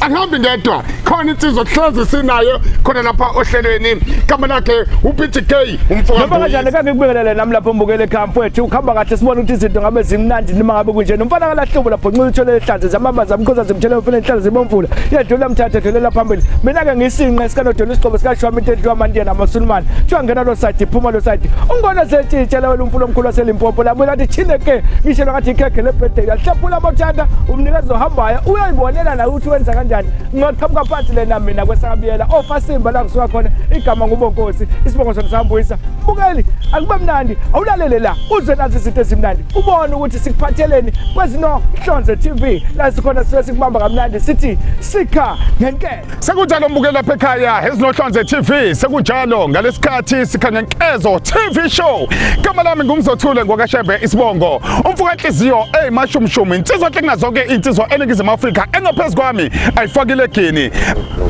angihambi ngedwa khona insizwa kuhlezi sinayo khona lapha ohlelweni igama lakhe uPG K umfoka Noma kanjani kange kubingelele nami lapho mbukele camp wethu ukhamba kahle sibona ukuthi izinto ngabe zimnandi noma ngabe kunje nomfana kalahlubo lapho nxuza uthole ehlanze zamabaza amkhoza zimthele umfana enhlala zibomvula yedlula mthathe dlulela phambili mina ke ngisinqe sikanodola isigqobo sikashwami into edliwa amandiya namasulumane kuthiwa ngena lo side phuma lo side ungona setshitshela wena umfula omkhulu waselimpopo labuye lathi chine ke ngishelwa ngathi ikhekhe lebhedela hlephula amathanda umnikezi ohambayo Ayibonela la ukuthi wenza kanjani ngaqhamuka phansi lena mina kwesakabiyela ofasimba la ngisuka khona igama ngubonkosi isibongo sona sambuyisa bukeli akube mnandi awulalele la uze nazi izinto ezimnandi ubone ukuthi sikuphatheleni kwezinohlonze TV la sikhona sibe sikubamba kamnandi sithi sikha ngenkele Sekunjalo mbuke lapha ekhaya ezinohlonze TV sekunjalo ngalesikhathi sikhanya nkezo TV show igama lami ngumzothule ngokashembe isibongo umfuka inhliziyo eyimashumshumi insizwa klinga zonke insizwa eningizimu Afrika engaphezulu kwami ayifakile gini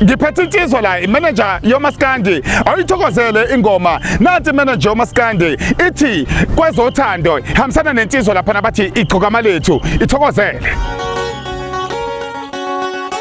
ngiphethe insizwa la imanager yomaskandi awuyithokozele ingoma nathi manager yomaskandi ithi kwezothando hambisana nensizwa lapha nabathi igcoka malethu ithokozele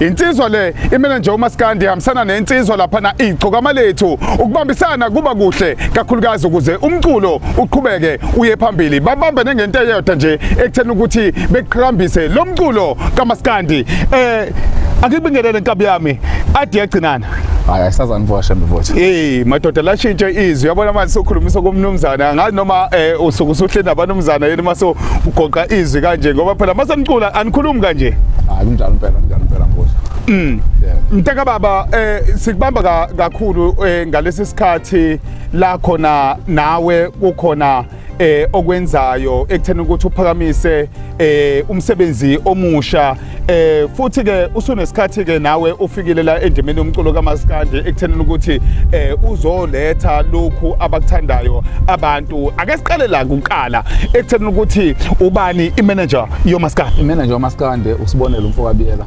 Insizwa le imele nje umaskandi ihambisana nensizwa lapha na igcokama lethu ukubambisana kuba kuhle kakhulukazi ukuze umculo uqhubeke uye phambili babambe nengento eyodwa nje ekuthena ukuthi beqhakambise lo mculo kamaskandi eh akibingelele nkabi yami adi yagcinana hayi ayisazanivua shembe vothi hey madoda lashintshe izwi yabona manje sokhulumisa komnumzana ngathi noma eh, usuku usuhle nabanumzana yini mase ugoqa izwi kanje ngoba phela mase nicula anikhulumi kanje hayi kunjalo impela kunjalo impela mbuzo mm mntaka baba eh sikubamba kakhulu eh, ngalesi sikhathi la khona nawe kukhona eh okwenzayo ekuthena ukuthi uphakamise eh umsebenzi omusha eh futhi ke usunesikhathi ke nawe ufikile la endimeni yomculo kamaskandi ekuthena ukuthi eh uzoletha lokhu abakuthandayo abantu ake siqale la kuqala ekuthena ukuthi ubani imanager yomaskandi imanager yomaskandi usibonela umfokabiyela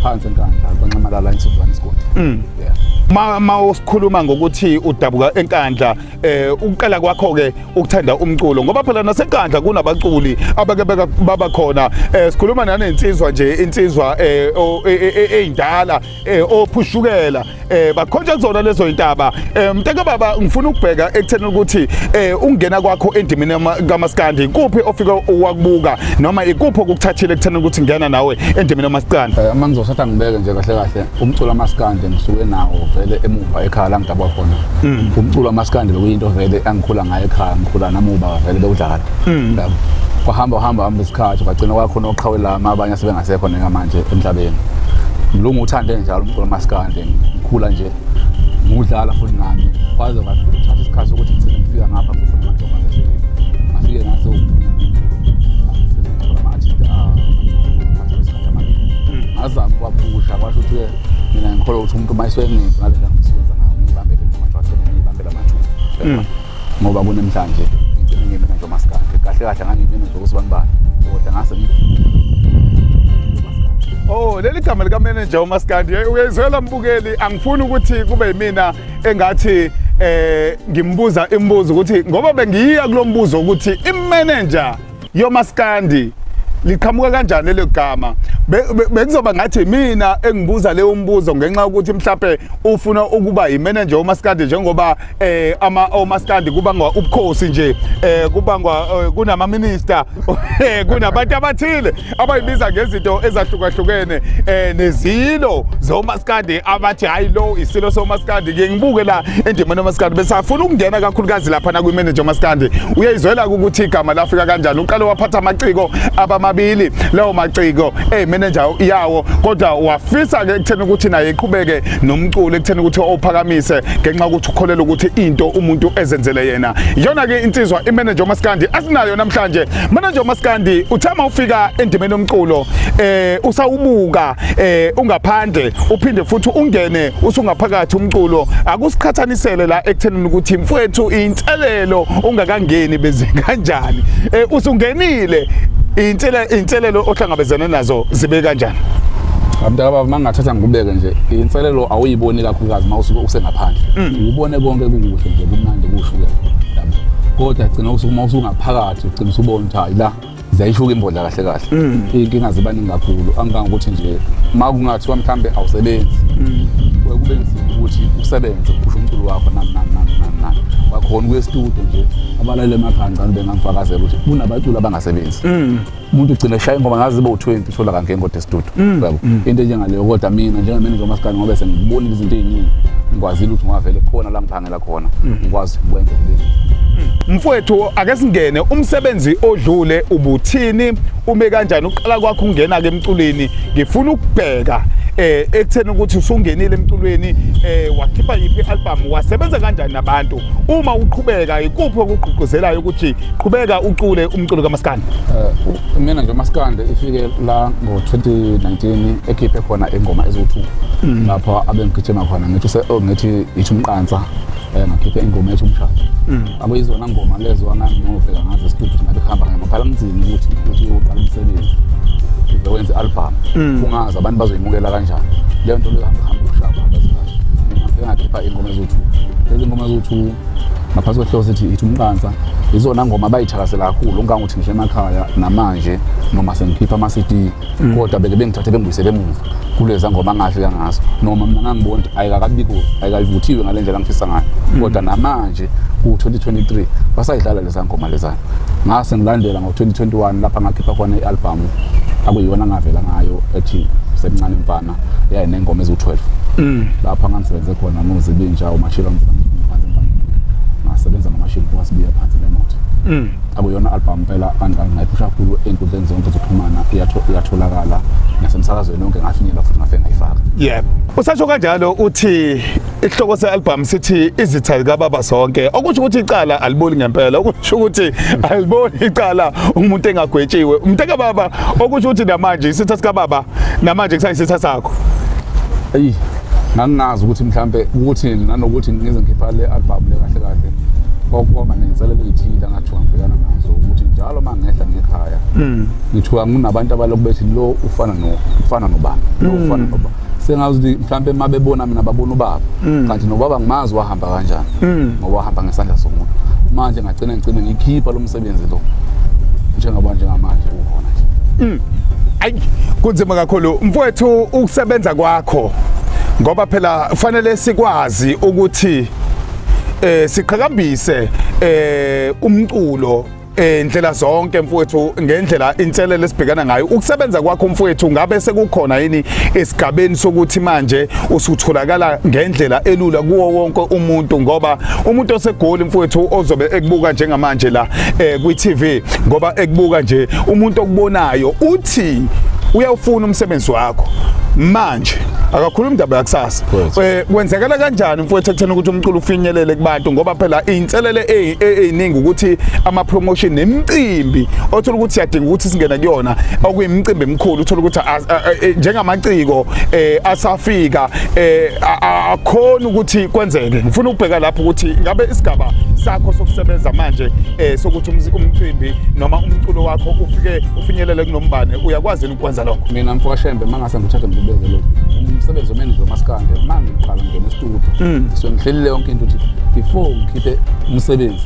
phansi enkandla kwanxamalala insuzwana isigodi mm. yeah ma usikhuluma ngokuthi udabuka enkandla eh ukuqala kwakho ke ukuthanda umculo ngoba phela nasenkandla kunabaculi abake baba khona eh sikhuluma nanensizwa nje insizwa eh eindala e, e, e, ophushukela eh bakhonja kuzona lezo intaba eh, mntaka baba ngifuna ukubheka ekutheni ukuthi eh ungena kwakho endimini kamaskandi kuphi ofika wakubuka noma ikuphi okukuthathile ekutheni ukuthi ngena nawe endimini kamaskandi eh, uma ngizosatha ngibeke nje kahle kahle umculo amaskande ngisuke nawo vele emuva ekhaya la ngidabwa khona mm. umculo amaskande bekuyinto vele angikhula ngayo ekhaya ngikhula namuba vele bewudlala mm. yabo kwahamba uhamba hamba isikhathi kwagcina kwakhona oqhawe lami abanye sebengasekho neka manje emhlabeni mlungu uthande njalo umculo amaskande ngikhula nje ngudlala futhi nami kwaze kwathatha isikhathi sokuthi ngigcine ngifika ngapha futhi amantombazane ngafike ngaze ngazama kwaphusha kwasho ukuthi mina ngikholwa ukuthi umuntu uma esewengenzi ngale ndlela ngisiwenza ngayo ngiyibambele mathwa athena ngiyibambela mathwa hmm. ngoba kunemhlanje ngigcine ngime nje umasikade kahle kahle ngangiyimina nje ukuthi banibani kodwa ngase Oh leli gama lika manager uMaskandi uyayizwela mbukeli angifuni ukuthi kube yimina engathi eh ngimbuza imibuzo ukuthi ngoba bengiyiya kulombuzo ukuthi imanager yomaskandi liqhamuka kanjani lelo gama bekuzoba ngathi mina engibuza leyo mbuzo ngenxa yokuthi mhlawumbe ufuna ukuba yimanager omaskandi njengoba eh ama omaskandi kubangwa ubukhosi nje eh kubangwa eh, kunama minister eh, kunabantu abathile abayibiza ngezinto ezahlukahlukene eh nezilo zomaskandi abathi hayi lo isilo somaskandi ke ngibuke la endimeni omaskandi besafuna ukungena kakhulukazi lapha na kwi-manager omaskandi uyayizwela ukuthi igama lafika kanjani uqale waphatha amaciko abamabili lawo maciko eh manager yawo kodwa wafisa ke ekutheni ukuthi naye iqhubeke nomculo ekutheni ukuthi ophakamise ngenxa ukuthi ukholela ukuthi into umuntu ezenzele yena iyona ke insizwa i-manager omaskandi asinayo namhlanje Mana nje uMaskandi uthama ufika endimeni yomculo eh usawubuka eh ungaphandle uphinde futhi ungene usungaphakathi umculo akusiqhathanisele la ekuthenini ukuthi mfwethu inselelo ungakangeni benze kanjani eh usungenile inselelo inselelo ohlangabezene nazo zibe kanjani Abantaka baba mangathatha ngikubeke nje inselelo awuyiboni kakhulukazi mawusuke usengaphandle mm. ubone konke kukuhle nje kumnandi kushukela kodwa gcina usuku mawusuka phakathi ugcina usubona ukuthi hayi la ziyayishuka imbodla kahle kahle mm. iy'nkinga ziba ningi kakhulu angangokuthi nje ma kungathiwa mhlawumbe awusebenzi mm. kuye kube nzima ukuthi usebenze uphushe umculo wakho nani nani nani nani nani wakhona ukuye estudio nje abalalele emakhanda ngicane bengangifakazela ukuthi kunabaculi abangasebenzi mm. umuntu ugcina eshaya ingoma ngazi ibe u-20 uthola kanke ingoda esitudu mm, yabo mm. into enjengaleyo kodwa mina njengamanager umasikane ngobe sengibonile izinto ey'ningi ngikwazile ukuthi ngavele khona la ngiphangela khona mm. ngikwazi ukwenza kulezi mfowethu ake singene umsebenzi odlule ubuthini ume kanjani uqala kwakho ungena ke emculweni ngifuna ukubheka eh ekutheni ukuthi usungenile emculweni eh wakhipha yiphi album wasebenza kanjani nabantu uma uqhubeka ikuphi okugqugquzelayo ukuthi qhubeka ucule umculo kamaskandi uh, mina nje umaskandi ifike la ngo-2019 ekhiphe khona ingoma eziwu-two mm. lapho abengigijima khona ngithi oh, ngithi yithi umqansa um ngakhiphe ingoma ethi umshado mm. akuyizona ngoma lezo anganginovela ngazo esitudio ngabe kuhamba ngamaphala mzini ukuthi ukuthi uqala umsebenzi uze wenze i-albhamu mm. kungazi abantu bazoyimukela kanjani leyo nto leyo hamba hamba ushaba ngabe ngakhipha ingoma eziwu-two lezi ngoma eziwu-two ngaphansi kwehlosi ithi ithi umqansa izona ngoma abayithakasela kakhulu ungange uthi ngisho emakhaya namanje noma sengikhipha ama-cd mm. kodwa beke bengithathe bengibuyisele emuva kuleza ngoma angafika ngazo noma mina ngangibona ukuthi ayikakabiko ayikayivuthiwe ngale ndlela ngifisa ngayo mm. kodwa namanje ku-2023 basayidlala leza ngoma lezana ngase ngilandela ngo-2021 lapha ngakhipha khona i-albhamu akuyona ngavela ngayo ethi semncane mfana yayi nengoma eziwu-12 mm. lapha ngangisebenze khona muzi bintsha umashilo ngasebenza ngamashilo kwasibiya phansi nemoto mm. akuyona albhamu phela ngayiphusha kakhulu ey'nkundleni zonke zokuxhumana iyatholakala nasemsakazweni yonke ngafinyela futhi ngafe ngayifaka yebo usasho kanjalo uthi isihloko se-albhamu sithi izitha zikababa zonke okusho ukuthi icala aliboli ngempela okusho ukuthi aliboli icala umuntu engagwetshiwe umuntu kababa okusho ukuthi namanje isitha sikababa namanje kusayisitha sakho eyi ngangingazi ukuthi mhlampe ukuthi nanokuthi ngize ngikhipha le album le kahle kahle kwakuba nenselelo ezithile angathiwa ngibhekana nazo ukuthi njalo uma ngehla ngekhaya mm. ngithiwa nginabantu abalokhu bethi lo ufana no ufana nobani lo mm. ufana nobani sengazi ukuthi mhlawumbe uma bebona mina babona ubaba mm. kanti nobaba ngimazi wahamba kanjani mm. ngoba wahamba ngesandla somuntu manje ngagcina ngigcine ngikhipha lo msebenzi lo njengoba njengamanje ukhona nje mm. ayi kunzima kakhulu mfowethu ukusebenza kwakho ngoba phela kufanele sikwazi ukuthi eh siqhakambise eh umculo Eh ndlela zonke mfowethu ngendlela inselele esibhekana ngayo ukusebenza kwakho mfowethu ngabe sekukhona yini esigabeni sokuthi manje usutholakala ngendlela elula kuwo wonke umuntu ngoba umuntu osegoli mfowethu ozobe ekubuka njengamanje la eh kwi TV ngoba ekubuka nje umuntu okubonayo uthi uyawufuna umsebenzi wakho manje akakhuluma indaba yakusasa eh kwenzekela kanjani mfowethu ekuthena ukuthi umculo ufinyelele kubantu ngoba phela inselele eyiningi ukuthi ama promotion nemicimbi othola ukuthi siyadinga ukuthi singena kuyona okuyimicimbi emikhulu uthola ukuthi e, njengamaciko eh, asafika eh, akhona ukuthi kwenzeke ngifuna ukubheka lapho ukuthi ngabe isigaba sakho sokusebenza manje eh, sokuthi umcimbi noma umculo wakho ufike ufinyelele kunombane uyakwazi kwenza lokho mina mfoka shembe mangase ngithathe ngibeke lokho umsebenzi omenzi lomaskande uma ngiqala ngingena estudio mm. so ngihlelile yonke into ukuthi before ngikhiphe umsebenzi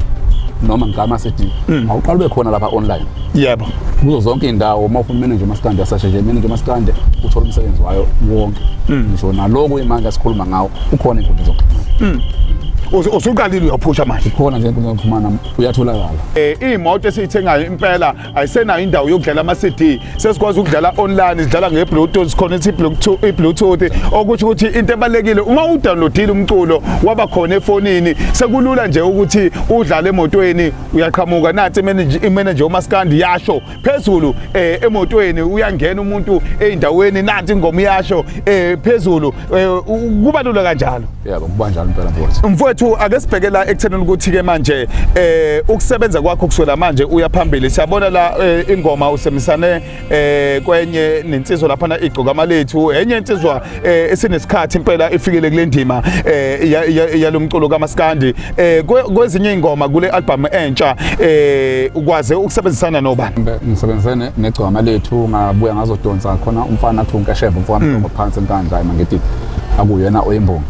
noma ngigama sedini mm. awuqala ube khona lapha online yebo kuzo zonke iy'ndawo uma ufuna manager maskande asashe nje manager maskande uthole umsebenzi wayo wonke mm. ngisho naloku imanje asikhuluma ngawo ukhona inkundla zokuxhumana usuqalile uyaphusha manje khona nje enkundleni yokuxhumana uyatholakala um iy'moto esiyithengayo impela ayisenayo indawo yokudlala ama-cd sesikwazi ukudlala online sidlala nge-bluetooth sikhonetha i-bluetooth okusho ukuthi into ebalulekile uma udownloadile umculo waba khona efonini sekulula nje ukuthi udlale emotweni uyaqhamuka nathi imeneja umaskandi yasho phezulu um emotweni uyangena umuntu ey'ndaweni nathi ingoma iyasho um phezulu Eh, kuba lula kanjalo yebo kuba njalo impela mfowethu mfowethu ake sibheke la ekuthenini ukuthi ke manje eh ukusebenza kwakho kusukela manje uya phambili siyabona la eh, ingoma usemisane eh kwenye nensizwa lapha na igcoka malethu enye insizwa eh, esinesikhathi impela ifikele kule ndima eh yalomculo kaMaskandi eh kwezinye ingoma kule album entsha eh ukwaze ukusebenzisana nobani ngisebenzisene negcwama lethu ngabuya ngazodonsa khona umfana athi unkasheva umfana mm. phansi enkandla emangithi akuyena oyimbongi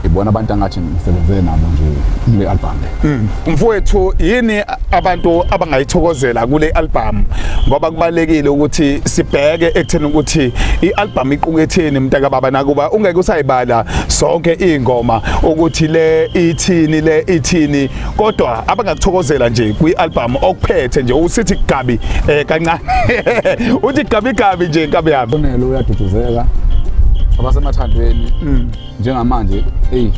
ibona abantu angathi ngisebenzele nabo nje kule album le mm. mfowethu yini abantu abangayithokozela kule album ngoba kubalekile ukuthi sibheke ekutheni ukuthi ialbum iquketheni mntaka baba nakuba ungeke usayibala sonke ingoma ukuthi le ithini le ithini kodwa abangakuthokozela nje kwialbum okuphethe nje usithi gabi eh kancane uthi gabi gabi nje gabi yami uyaduduzeleka abasemathandweni mm. njengamanje eyi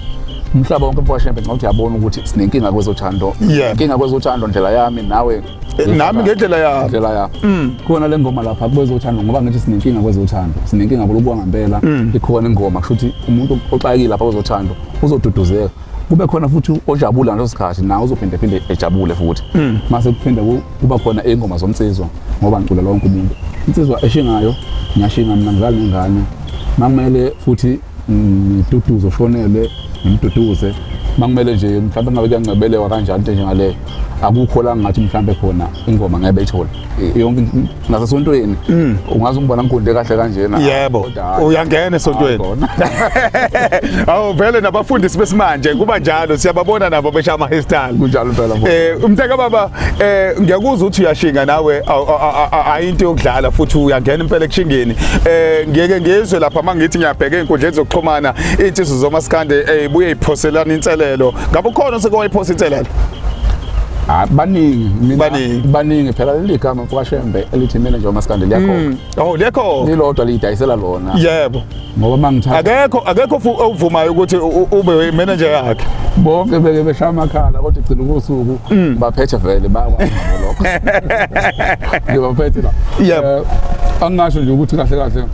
umhlaba wonke mfoka shembe ngawuthi yabona ukuthi sinenkinga kwezothando Yeah. inkinga kwezothando ndlela yami nawe Eh, nami ngendlela yami. ndlela yami Mm. khona le ngoma lapha kwezothando ngoba ngithi sinenkinga kwezothando sinenkinga kulukuwa ngampela Mm. ikhona ingoma kusho ukuthi umuntu oxakile lapha kwezothando uzoduduzeka kube khona futhi ojabula ngaleso sikhathi nawe uzophinde phinde ejabule futhi Mm. mase kuphinde ku- kuba khona ingoma zomnsizwa ngoba ngicula lonke umuntu insizwa eshingayo ngiyashinga mina ngidlala nengane makumele futhi ngiduduze ushonele ngimduduze makumele nje mhlawumbe ngabe kuyancebelewa kanjani into njengaleyo akukho la ngathi mhlawumbe khona ingoma ngeke beyithole yonke nasesontweni mm. ungaze ungibona ngigunde kahle kanjena yebo uyangena esontweni awu vele nabafundisi besimanje kuba njalo siyababona nabo besha ama hairstyle kunjalo phela eh umntaka baba eh ngiyakuzwa ukuthi uyashinga nawe into yokudlala futhi uyangena impela ekushingeni eh ngeke ngizwe lapha mangithi ngiyabheka inkundleni zokuxhumana izinsizwa zomaskande eh buye iphoselana inselelo ngabe ukhona osekowayiphosa inselelo Ah, baningi mina Baningi. baningi phela leli gama mfukashembe elithi manager umaskande liyakhona Mm. oh liyakhona lilodwa liyidayisela lona yebo ngoba mangithatha akekho akekho ovumayo ukuthi ube manager yakhe bonke beke beshaya amakhala kodwa igcina ubusuku mm. baphethe vele bayakwazi lokho ngibaphethe la yep eh, angasho nje ukuthi kahle kahle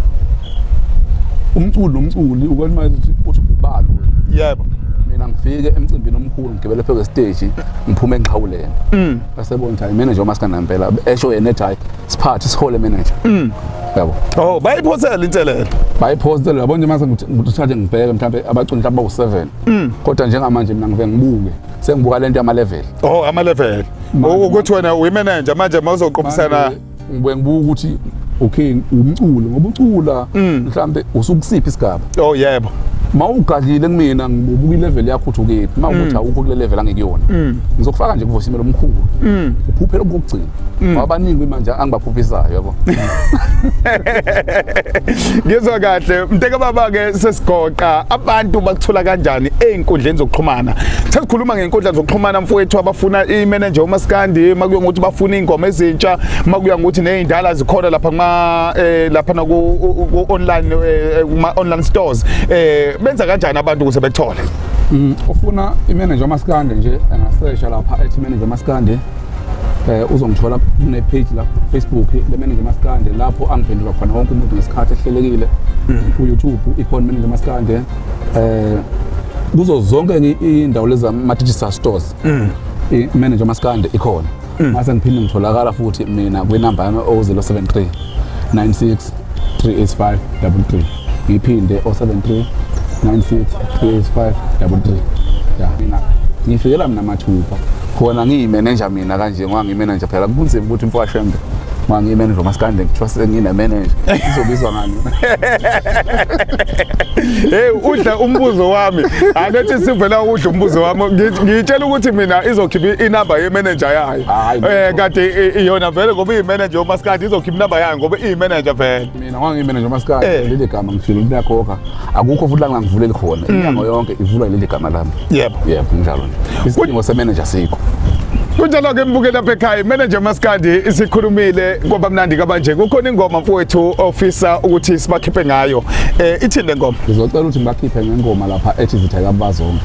umculi nomculi ukwalima ukuthi uthi ubalo yebo mina ngifike emcimbini omkhulu ngigibele phezu kwesiteji ngiphume enqhawuleni mm. basebona ukuthi hayi mina nje uma sikanampela esho yena ethi hayi siphathe sihole manager mm. yabo oh bayiphosela inselelo bayiphosela yabo nje mase ngithathe ngibheke mhlawumbe abaculi mhlawumbe bawu7 mm. kodwa njengamanje mina ngiveke ngibuke sengibuka lento yama level oh ama level ukuthi wena uyi manager manje mawuzoqophisana ngibuye ngibuka ukuthi okay umculo ngoba ucula mm. mhlambe usukusiphi isigaba oh yebo mawugadlile kumina ngibuka ilevel yakho uthi ukephi mawukuthi mm. awukho kule level angekuyona mm. ngizokufaka nje kuvosimelo omkhulu uphuphela kokugcina Mm. wabaningi kwimanje angibaphuphisayo yabo ngizwa kahle mteka baba ke sesigoqa abantu bakuthola kanjani ezinkundleni zokuxhumana sesikhuluma ngenkundla zokuxhumana mfowethu abafuna imanager umaskandi makuya ngokuthi bafuna ingoma ezintsha makuya ngokuthi nezindala zikhona lapha kuma eh, lapha na ku online eh, eh, kuma online stores eh benza kanjani abantu ukuze bethole mm, ufuna imanager umaskandi nje angasesha lapha ethi manager umaskandi eh uzongithola kune page la Facebook le manager maskande lapho angiphendula khona wonke umuntu ngesikhathi ehlelekile mm. ku YouTube ikhona manager maskande eh kuzo zonke indawo leza ma digital stores mm. i manager maskande ikhona mm. mase ngiphinde ngitholakala futhi mina kwi number yami 073 96 38533 ngiphinde 073 96 38533 ya mina ngifikela mina mathupha khona ngiyimenenja mina kanje ngoba ngimenenja phela kunzima ukuthi mfowashembe ngoba ngiyimenenja umasikande kuthiwa senginemenenja izobizwa ngani heyi udla umbuzo wami anethi sivela udla umbuzo wami Ngi- ngiyitshela ukuthi mina izokhipha inamba yemenenja yayo Hhayi, um kade i- iyona vele ngoba iyimenenja yomasikade izokhipha inamba yayo ngoba iyimeneja vele mina ngangiyimeneja umasikadi Eh. leli gama ngifile ukuthi liyakhokha akukho futhi la ngangivuleli khona inyanga yonke ivulwa yileli gama lami Mm. Yebo. yebo kunjalo nje isidingo semeneja sikho kunjalo-ke mbukeli apha ekhaya imeneja umasikandi isikhulumile kwaba mnandi kabanje kukhona ingoma mfowethu ofisa ukuthi sibakhiphe ngayo um ithini le ngoma ngizocela ukuthi ngibakhiphe ngengoma lapha ethi zithe kabazonke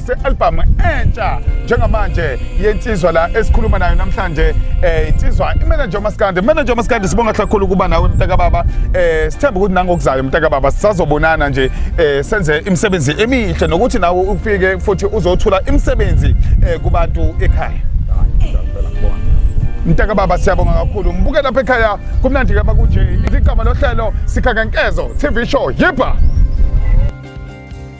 se-albhamu entsha njengamanje yensizwa la esikhuluma nayo namhlanje eh insizwa imanager umaskandi manager umaskandi sibonga kakhulu ukuba nawe mntaka baba eh sithemba ukuthi nangokuzayo mntaka baba sisazobonana nje eh senze imisebenzi emihle nokuthi nawe ufike futhi uzothula imisebenzi eh kubantu ekhaya mntaka baba siyabonga kakhulu mbuke lapha ekhaya kumnandi kaba kunje iligama lohlelo sikhankankezo tv show yiba